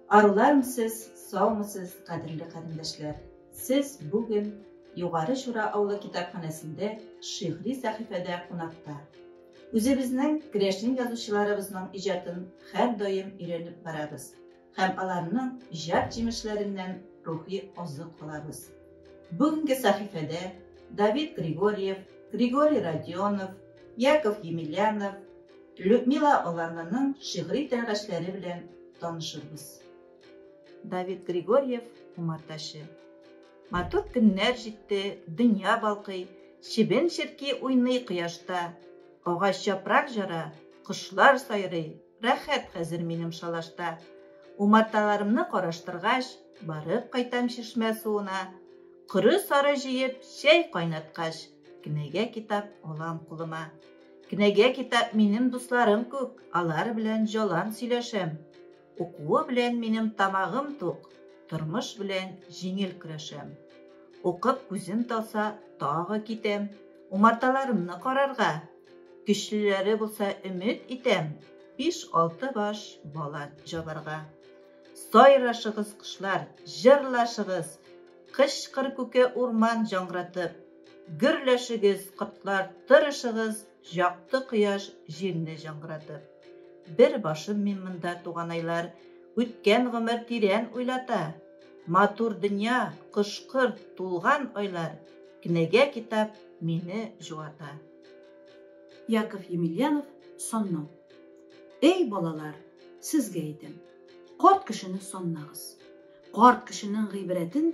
Аруларым сез, саумысыз, кадерле карендәшләр. Сез бүген Югары Чура авылы китапханәсендә шигъри сәхифәдә кунакта. Үзебезнең керәшен язучыларыбызның иҗатын хәр даим өйрәнеп барабыз һәм аларның иҗат җимешләреннән рухи азык алабыз. Бүгенге сәхифәдә Давид Григорьев, Григорий Родионов, Яков Емельянов, Людмила Аларнаның шигъри тәгәрәчләре белән танышырбыз. Давид Григорьев, Умартачы. Матур көннәр җитте, дөнья балкый, Чебен-черки уйный кояшта. Агач япрак җара, кошлар сайрый, Рәхәт хәзер минем шалашта. Умарталарымны караштыргач, Барып кайтам чишмә суына. Коры-сары җыеп, чәй кайнаткач, Кенәгә-китап алам кулыма. Кенәгә китап минем дусларым күк, алар белән җалан сөйләшәм. Укуы белән минем тамагым тук, тормыш белән җиңел көрәшәм. Укып күзем талса, тагы китәм, умарталарымны карарга. Көчлеләре булса өмет итәм, биш-алты баш бала җабарга. Сайрашыгыз, кошлар, җырлашыгыз, кычкыр күке урман җаңгыратып. Гөрләшегез, котлар, тырышыгыз, Якты кояш, җилне җыңгыратып. Бер башым мин монда, туганайлар, Үткән гомер тирән уйлата. Матур дөнья, кош-корт, тулган айлар, Кнеге-китап мине җуата. Яков Емельянов, Сонно. Эй, балалар, сезгә әйтәм, Карт кешене соннагыз. Карт кешенең гыйбрәтен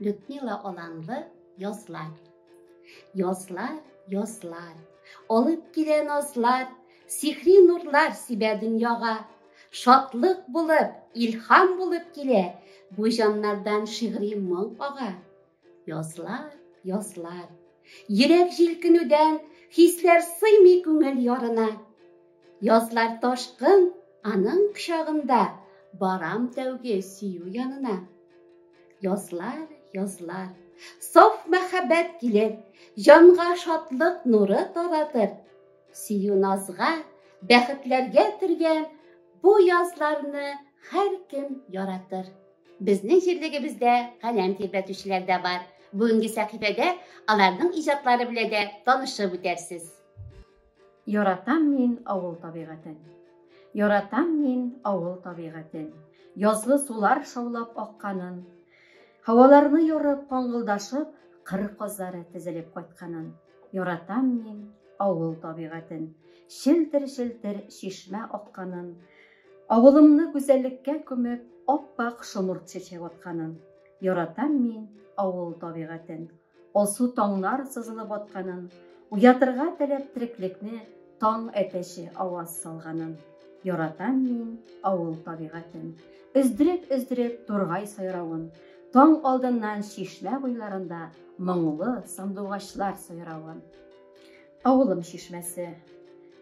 Людмила Оланлы язлар. Язлар, язлар, алып килә назлар, сихри нурлар сибә дөньяга. Шатлык булып, илһам булып килә, бу җаннардан шигъри моң ага. Язлар, язлар, йөрәк җилкенүдән, хисләр сыймый күңел ярына. Язлар ташкын аның кочагында, Барам тәүге сөю янына. Язлар, язлар, саф мәхәббәт килер, Җанга шатлык нуры таратыр. Сөю назга, бәхетләргә төргән Бу язларны һәркем яратыр. Безнең җирлегебездә каләм тирбәтүчеләр дә бар. Бүгенге сәхифәдә аларның иҗатлары белән дә танышып үтәрсез. Яратам мин авыл табигатен. Яратам мин авыл табигатен. Язгы сулар шаулап акканын. Һаваларны ярып, каңгылдашып, кыр казлары тезелеп кайтканын. Яратам мин авыл табигатен. Челтер-челтер чишмә акканын. Авылымны гүзәллеккә күмеп, ап-ак шомырт чәчәк атканын. Яратам мин авыл табигатен. Алсу таңнар сызылып атканын, Уятырга теләп треклекне Таң әтәче аваз салганын. Яратам мин авыл табигатен, Өздереп-өздереп тургай сайравын, Таң алдыннан чишмә буйларында Моңлы сандугачлар сайравын. Авылым чишмәсе.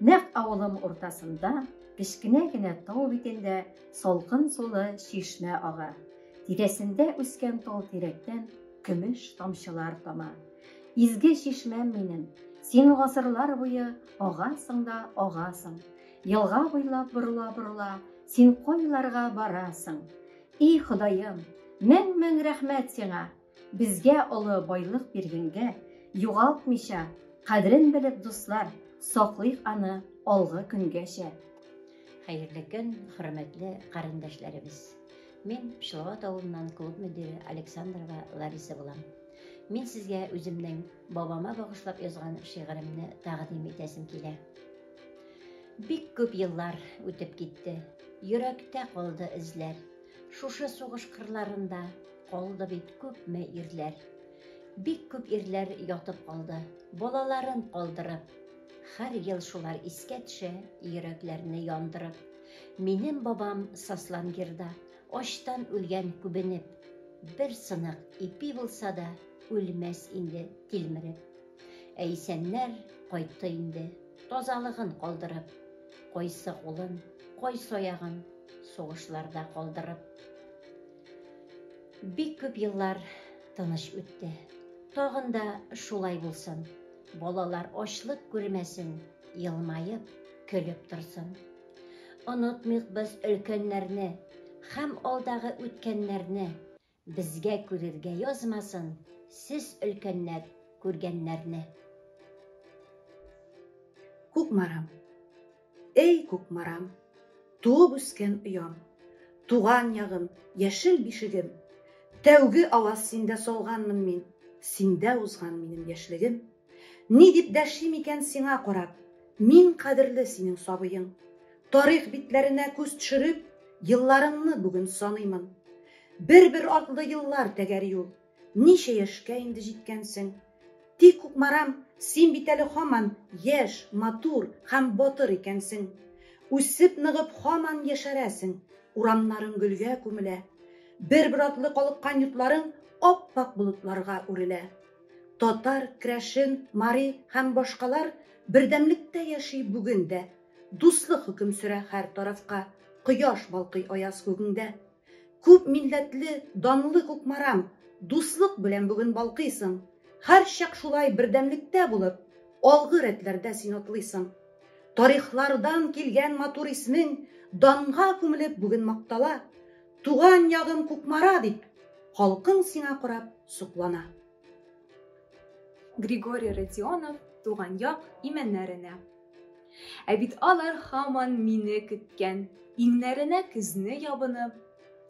Нәкъ авылым уртасында, Кечкенә генә тау битендә Салкын сулы чишмә ага. Тирәсендә үскән тал тирәктән көмеш тамчылар тама. Изге чишмәм минем, син гасырлар буе агасың да агасың. Елга буйлап борыла-борыла, син кайларга барасың? И Ходаем, мең-мең рәхмәт сиңа! Безгә олы байлык биргәнгә, югалтмыйча, кадерен белеп, дуслар, саклыйк аны алгы көнгәчә. Хәерле көн, хөрмәтле карендәшләребез. Мин Пчеловод авылыннан клуб мөдире Александрова Лариса булам. Мин сезгә үземнең бабама багышлап язган шигыремне тәкъдим итәсем килә. Бик күп еллар үтеп китте. Йөрәктә калды эзләр. Шушы сугыш кырларында Калды бит күпме ирләр. Бик күп ирләр ятып калды, балаларын калдырып. Хәр ел шулар искә төшә, йөрәкләрне яндырып. Минем бабам Сослангирда, ачтан үлгән күбенеп. Бер сынык ипи булса да, үлмәс инде тилмереп. Ә исәннәр кайтты инде, тазалыгын калдырып. Кайсы кулын, кайсы аягын сугышларда калдырып. Бик күп еллар тыныч үтте. Тагын да шулай булсын. Балалар ачлык күрмәсен, елмаеп, көлеп торсын. Онытмыйк без өлкәннәрне һәм алдагы үткәннәрне, безгә күрергә язмасын сез өлкәннәр күргәннәрне. Кукмарам. Эй, Кукмарам, туып үскән оям, Туган ягым, яшел бишегем, Тәүге аваз синдә салганмын мин, Синдә узган минем яшьлегем. Ни дип дәшим икән сиңа карап, Мин кадерле синең сабыең. Тарих битләренә күз төшереп, Елларыңны бүген саныймын. Бер-бер атлы еллар тәгәр юл. Ничә яшькә инде җиткәнсең? Тик, Кукмарам, син бит әле һаман яшь, матур һәм батыр икәнсең. Үсеп-ныгып һаман яшәрәсең, урамнарың гөлгә күмелә, бер-бер артлы калыккан йортларың ап-ак болытларга үрелә. Татар, крәшен, мари һәм башкалар бердәмлектә яши бүген дә. Дуслык хөкем сөрә һәр тарафка, кояш балкый аяз күгеңдә. Күп милләтле, данлы Кукмарам, Дуслык белән бүген балкыйсың. Һәрчак шулай бердәмлектә булып, Алгы рәтләрдә син атлыйсың. Тарихлардан килгән матур исмең Данга күмелеп бүген мактала. Туган ягым Кукмара дип, Халкың сиңа карап соклана. Григорий Родионов туган як имәннәренә. Ә бит алар хаман мине көткән, иңнәренә көзне ябынып,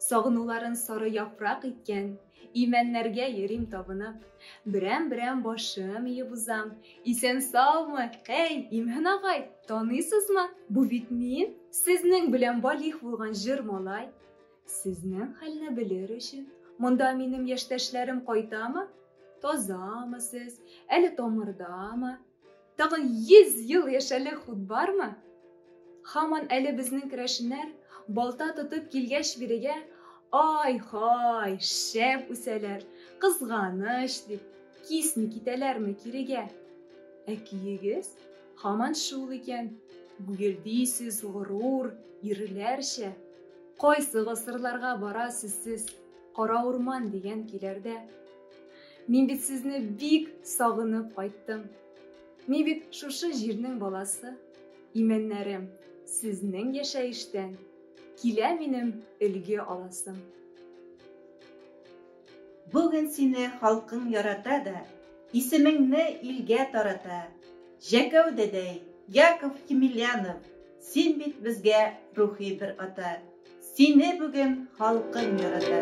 сагынуларын сары яфрак иткән, имәннәргә йөрим табынып. Берәм-берәм башым иеп узам. Исән саумы? Әй, Имһен агай, таныйсызмы? Бу бит мин, сезнең белән балих булган җыр малай. Сезнең хәлне белер өчен, монда минем яшьтәшләрем кайтамы? Тазамы сез? Әле тамырдамы? Тагын 100 ел яшәрлек хут бармы? Хаман әле безнең керәшеннәр балта тотып килгәч бирегә, ай-хай, шәп үсәләр, кызганыч дип, кисми китәләрме кирегә? Ә көегез хаман шул икән, гүгелдисез, горур, ирләрчә. Кайсы гасырларга барасыз сез, кара урман дигән көйләрдә? Мин бит сезне бик сагынып кайттым. Мин бит шушы җирнең баласы. Имәннәрем, сезнең яшәештән килә минем өлге аласым. Бүген сине халкың ярата да, исемеңне илгә тарата. Җәкәү дәдәй, Яков Емельянов! Син бит безгә рухи бер ата, Сине бүген халкың ярата.